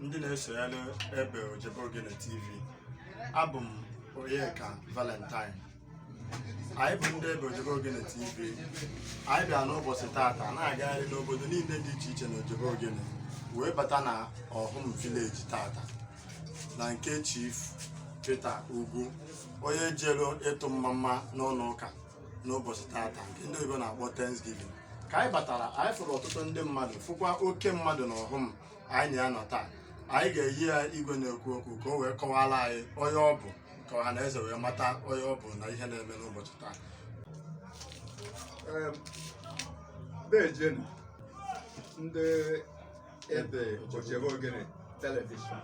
ndị na-eso anyị n'ebe ojebe ogene tv abụ m onyeka valentine anyị bụ ndị ebe ojebe ogene tv anyị bịa n'ụbọchị taata na-agagharị n'obodo niile dị iche iche na ojebe ogene wee bata na ọhụm vileji taata na nke chief peter ugwu onye jere ịtụ mmamma n'ụlọ ụka n'ụbọchị tata nke ndị oyibo na-akpọ Thanksgiving ka anyị batara anyị fụrụ ọtụtụ ndị mmadụ fụkwa oke mmadụ na ọhụm anyị na ya nọ taa anyị ga-eyi ya igwe na-ekwu okwu ka o wee kọwara anyị onye ọ bụ ka ọha na eze wee mata onye ọ bụ na ihe na-eme n'ụbọchị taa dejenu ndị ebe ojebe ogene telivishọn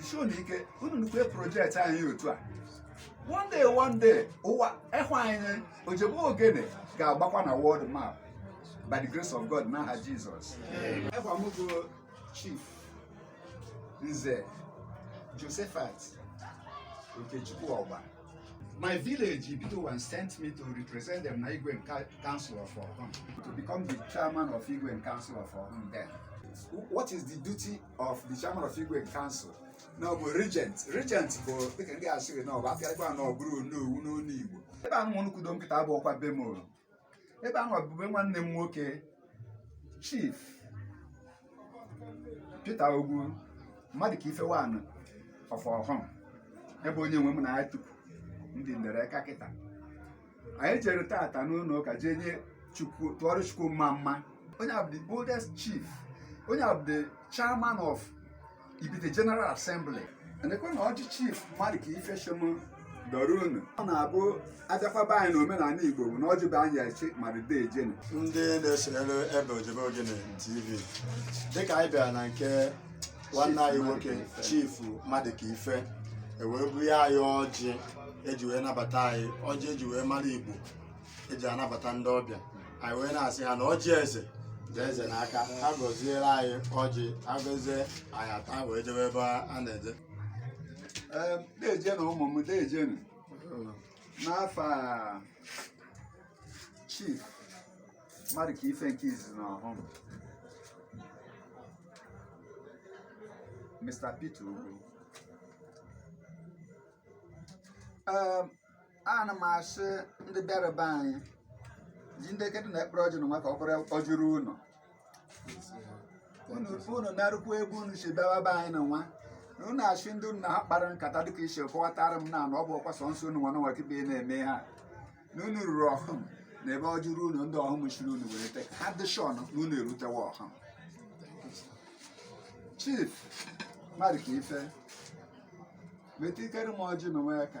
si unu ike unu nukwe projekti anyị otu a one day one day ụwa ịhụ anyị ojebe ogene ga-agbakwa na world map by the grace of God n'aha Jizọs aha m bụ chief nze Josephat Okechukwu Ogba my village Ibite Ọhụm sent me to represent them na Igwe Council of Ọhụm to become the chairman of Igwe Council of Ọhụm then what is the duty of the chairman of Igwe Council na ọ bụ regent regent bụ dịka ndị asị gị na ọ bụ apịarịkwa na ọ bụrụ onowu n'olu Igbo ebe ahụ nwa nkwudo kịta abụọkwa be m ebe ahụ ọ bụ be nwanne m nwoke chief Peter Ugwu mmadụ ka ife one of ọhụm ebe onye nwe m na ya tupu ndị ndere ka kịta anyị jere tata n'ụlọ ụka jee nye chukwu tụọrọ chukwu mma mma onye a bụ the oldest chief onye a bụ the chairman of ibite general assembly ndekwa na ọjị chief mmadụ ka ife shị m dọọrọ unu ọ na-abụ a bịakwa be anyị na omenala igbo bụ na ọjị bụ anyị eji mara dejenu ndị na-eso anyị n'ebe ojebe ogene tv dịka anyị bịara na nke nwanne anyị nwoke chifu mmadụ ka ife ewee bunye anyị ọjị eji wee nabata anyị ọjị eji wee mara Igbo eji anabata ndị ọbịa anyị wee na-asị ha na ọjị eze dị eze n'aka ha gọziere anyị ọjị ha gọzie anyị ata wee jewe ebe a na-eje dejenu ụmụ m dejenu afa m chief mmadụ ka ife nke izizi na ọhụm Mr. Peter Ugwu Ee, ana m asị ndị bịara be anyị ji ndị kedụ na ekpere ọjị na nwa ka ọ bụrụ ọjụrụ ụlọ unu unu narụkwa egwu unu si bịawa be anyị na nwa na unu asị ndị unu na ha kpara nkata dịka isi kọwatara m na na ọ bụ ọkwa sọ nsọ unu nwa nwa kibe na-eme ha na unu ruru ọhụm na ebe ọ jụrụ unu ndị ọhụm chere unu were te ha dị sure na unu erutewa ọhụm chief mmadụ ka ife metụ ikere m ọjị na nwa ya ka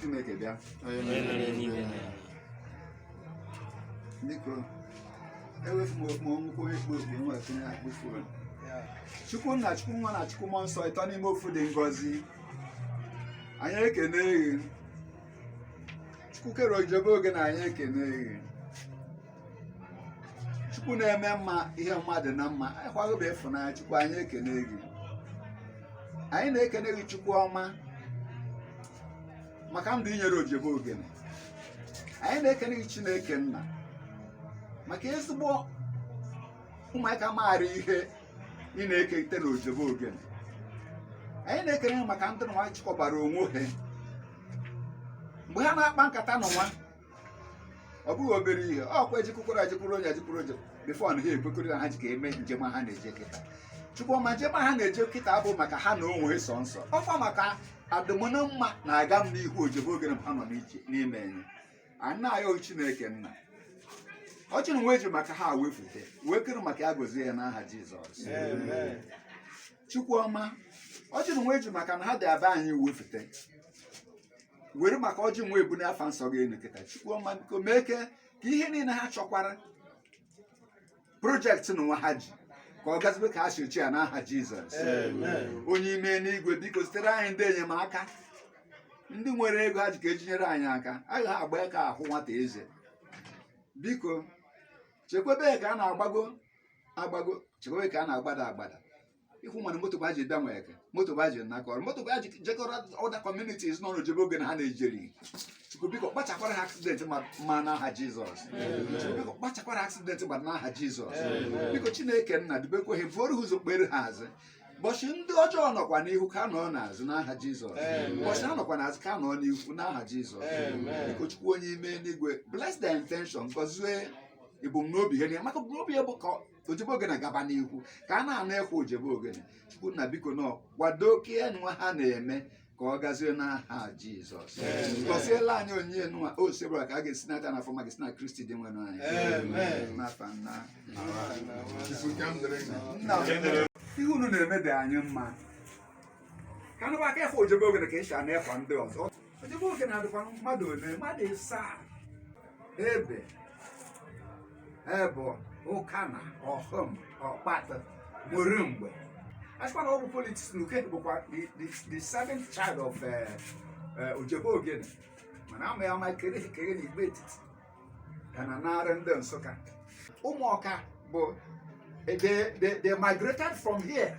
Chineke bịa biko ewefu m okpu ọnwụkwụ ekpu okpu nwa tinye akpụ fon chukwu nna chukwu nwa na chukwu mmụọ nsọ ịtọ n'ime ofu dị ngọzi anyị ekene gị chukwu kere ojebe ogene anyị ekene gị chukwu na-eme mma ihe mmadụ na mma anyị kwago bụ ịfụnanya chukwu anyị ekene gị anyị na-ekene gị chukwu ọma maka ndụ i nyere ojebe ogene anyị na-ekene gị chineke nna maka ezigbo ụmụaka maara ihe ị na-ekete na ojebe ogene anyị na-ekene gị maka ndị nwa chịkọbara onwe ha mgbe ha na-akpa nkata nụwa ọ bụghị obere ihe ọkwa e jekwukwara e jekwuru onye e jekwuru onye before na ha ekwekọrị na ha ji ka eme njem ha na-eje kịta chukwu ọma njem ha na-eje kịta bụ maka ha na onwe sọsọ ọkwa maka adịm na mma na agam n'ihu ojebe ogene ha nọ n'ije n'ime enye ana ya chineke nna ọjị nụnwa e ji maka ha wefute wee kere maka ya gozie ya n'aha jizọs chukwu ọma ọjị nụnwa e ji maka na ha dị aba anyị wefute were maka ọjị nwa ebuni afa nsọ gị enu kịta chukwu ọma biko mee ke ka ihe niile ha chọkwara project nụwa ha ji ka ọ gazibe ka ha si chee ya n'aha jizọs Amen. onye ime n'igwe biko zitere anyị ndị enyemaka ndị nwere ego ha ji ka e ji nyere anyị aka anaghị agba aka ahụ nwata eze biko chekwebe ya ka a na-agbago agbago chekwebe ka a na-agbada agbada ịhụ mana moto bụ aji bịa nweke moto bụ aji nakọrọ moto bụ aji jekọrọ other communities in ojebe ogene ha na-ejeri chukwu biko kpachakwara ha accident ma n'aha jizọs chukwu biko kpachakwara accident ma n'aha jizọs biko chineke nna dubekwa ha buoro ha ụzọ kpere ha azụ ụbọchị ndị ọjọọ nọkwa n'ihu ka ha nọ n'azụ n'aha jizọs ụbọchị ha nọkwa n'azụ ka ha nọ n'ihu n'aha jizọs biko chukwu onye ime n'igwe bless their intention gọzie ebumnobi ha na maka ebumnobi ha bụ ka ojebe ogene gaba n'ihu ka a na-anụ ekwe ojebe ogene chukwu nna biko nọ kwado ka ya nwa ha na-eme ka ọ gazie n'aha jizọs gọziela anyị onye nwa osebuluwa ka a ga-esi n'aka na afọ ma ga-esi na kristi dinwenụ anyị Amen. n'afa nna Chukwu ekene dịrị gị. nna m. ihe unu na-eme dị anyị mma ka a nụba aka efe ojebe ogene ka e si anụ ekwe ndị ọzọ ojebe ogene adịkwa mmadụ ole mmadụ ịsaa ebe abọ ụkana ọhụm ọkpatụ ụmụlụmgbe asịkwa na ọ bụ politics na ukehe bụkwa the- the the seventh child of eh, eh, ojebe ogene mana ama ya ama kere ekere na igbo etiti ya na narị ndị nsụka ụmụọka bụ they, they, they migrated from here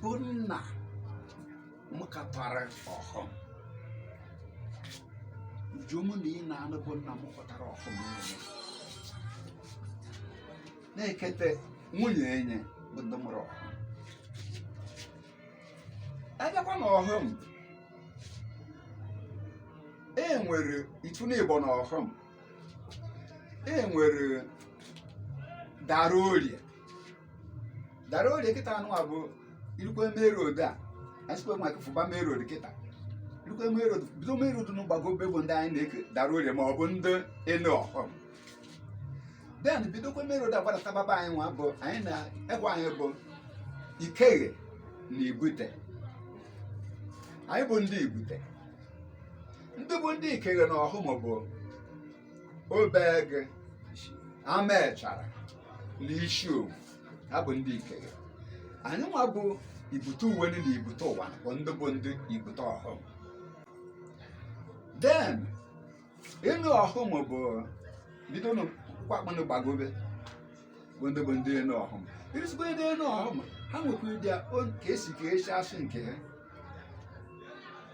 bụ nna m katara ọhụm nju mụ na ị na-anụ bụ nna mụtara ọhụm niile na-ekete nwunye enye bụ ndị mụrụ ọhụm abịakwa na ọhụm e nwere ifu n'ịbọ na ọhụm e nwere dara orie dara orie kịta anụ a bụ irukwe main road a asịkwa maka fụba main road kịta irukwe main road bido main road nụ gbagobe bụ ndị anyị na-eke dara orie ma ọ bụ ndị enu ọhụm then bidokwe main road agbadata baba anyị nwa bụ anyị na-ekwu anyị bụ ikeghe na ibute anyị bụ ndị ibute ndị bụ ndị ikeghe na ọhụm bụ obeagụ amachara na isi owu ha bụ ndị ikeghe anyị nwa bụ ibute uwenu na ibute ụwanị bụ ndị bụ ndị ibute ọhụm then enu ọhụm bụ bido n'ukwu akpụ nụ gbagobe bụ ndị bụ ndị enu ọhụm iruzikwa ndị enu ọhụm ha nwekwa ịdị ka esi ka esi asụ nke ha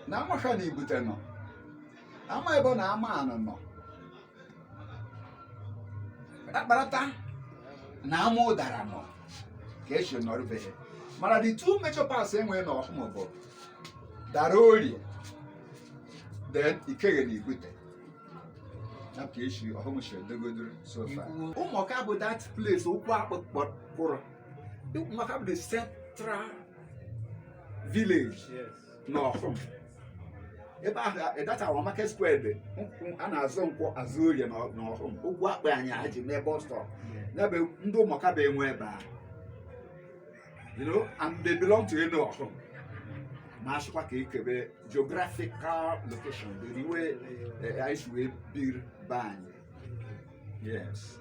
na amasha na ibute nọ ama abọ na ama anị nọ akparata na ama ụdara nọ ka esi nọrụbeghị mana the two major parts enwere na ọhụm bụ dara orie then ikeghe na ibute ya ka esi ọhụm si edogodoro so far ụmụọka bụ that place ukwu akpụ kpọrọ ụmụọka bụ the central village n'ọhụm ebe ahụ ịdatawa market square dị a na-azụ nkwọ azụ orie n'ọhụm ukwu akpụ anyị ha ji mee bus stop n'ebe ndị ụmụọka bụ enwe ebe a you know and they belong to enu ọhụm ma asịkwa ka ekebe geographical location the way eh, anyị si wee biri be anyị yes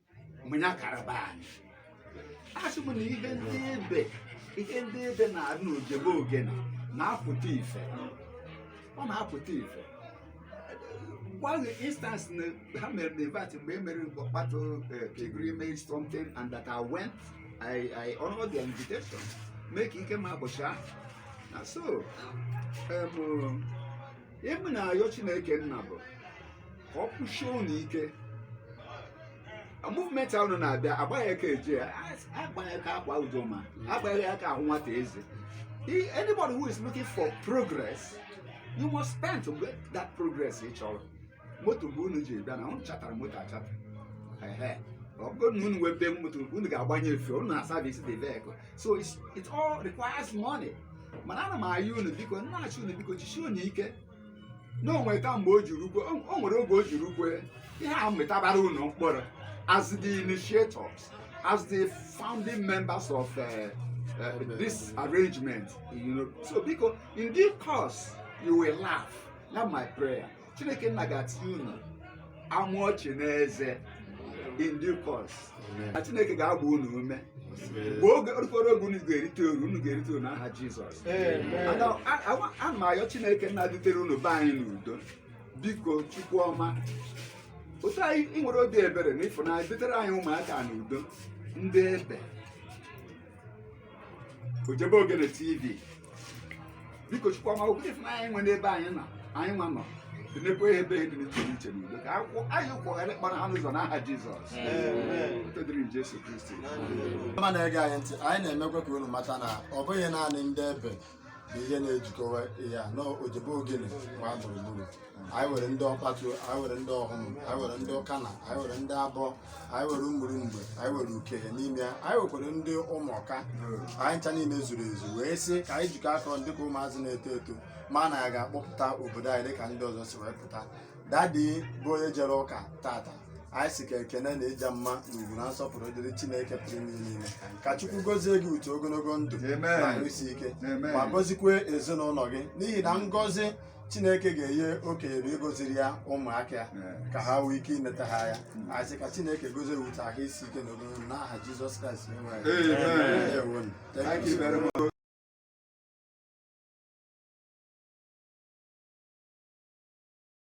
mụnya karaba anyị asị m na ihe ndị ebe ihe ndị ebe na-adị n'ojebe ogene na-apụta ife ọ na-apụta ife one instance na ha mere na invite mgbe e mere ọkpatu pilgrimage something and that I went I, I honor the invitation mee ka ike m abụcha ahụ na so um, ihe m na-ayọ chineke nna bụ ka ọ kwụsie unu ike movement ahụ na-abịa agbaghị aka eje agbaghị aka akwa udoma agbaghị aka ahụ nwata eze anybody who is looking for progress you must spend to get that progress ị chọrọ moto mgbe unu ji bịa na unu chatara moto achata ọ bụrụ na unu nwere moto unu ga-agbanye fuel unu na-aservice the vehicle so it all requires money mana ana m ayọ unu biko nnachi unu biko jisie unu ike na o nwere mgbe o je-erukwe o nwere oge o je-erukwe ihe a mịtabara unu mkpụrụ as the initiators as the founding members of uh, uh, this arrangement. You know, so because in due course you will laugh. That's my prayer. chineke nna ga-etinye unu amụ ọchị n'eze in due course na chineke ga-agba unu ume mgbe oge rukwara oge unu ga-erite uru unu ga-erite uru n'aha jizọs ana m ayọ chineke nna dutere unu be anyị n'udo biko chukwu ọma otu i nwere obi ebere na ịfụnanya dutere anyị ụmụaka n'udo ndị ebe Ojebe Ogene TV biko chukwu ọma okwu ife anyị nwe n'ebe anyị na anyị nwa nọ dịnekwa ihe ebe dị n'iche n'iche n'udo ka akwụkwọ anyị kwọgharị kpara ha n'ụzọ n'aha Jizọs otito dịrị Jesu Kristi ọma na-ege anyị ntị anyị na-emekwa ka unu mata na ọ bụghị naanị ndị ebe na ihe na-ejikọwa ha na ojebe ogene gbaa gburugburu anyị nwere ndị ọkpatu anyị nwere ndị ọhụm anyị nwere ndị ukana anyị nwere ndị abọ anyị nwere ụmụlụmgbe anyị nwere ukehe n'ime ya anyị nwekwara ndị ụmụọka anyị ncha niile zuru ezu wee sị ka anyị jikọ aka ọnụ dịka ụmụazị na-eto eto ma na ya ga-akpọpụta obodo anyị dịka ndị ọzọ si wee pụta daddy bụ onye jere ụka tata anyị sị ka ekene na ịja mma na ugwu na nsọpụrụ dịrị chineke pụrụ ime ihe niile ka chukwu gọzie gị with ogologo ndụ Amen. na ahụ isi ike Amen. ma gọzikwe ezinụlọ gị n'ihi na ngọzi chineke ga-enye okenye bụ ịgọziri ya ụmụaka ya Amen. ka ha nwee ike ineta ya anya anyị sị ka chineke gọzie gị with ahụ isi ike na ogologo ndụ n'aha jizọs kraịst onye nwe anyị. Amen. Ndewonu. Thank Thank you you so very much. much.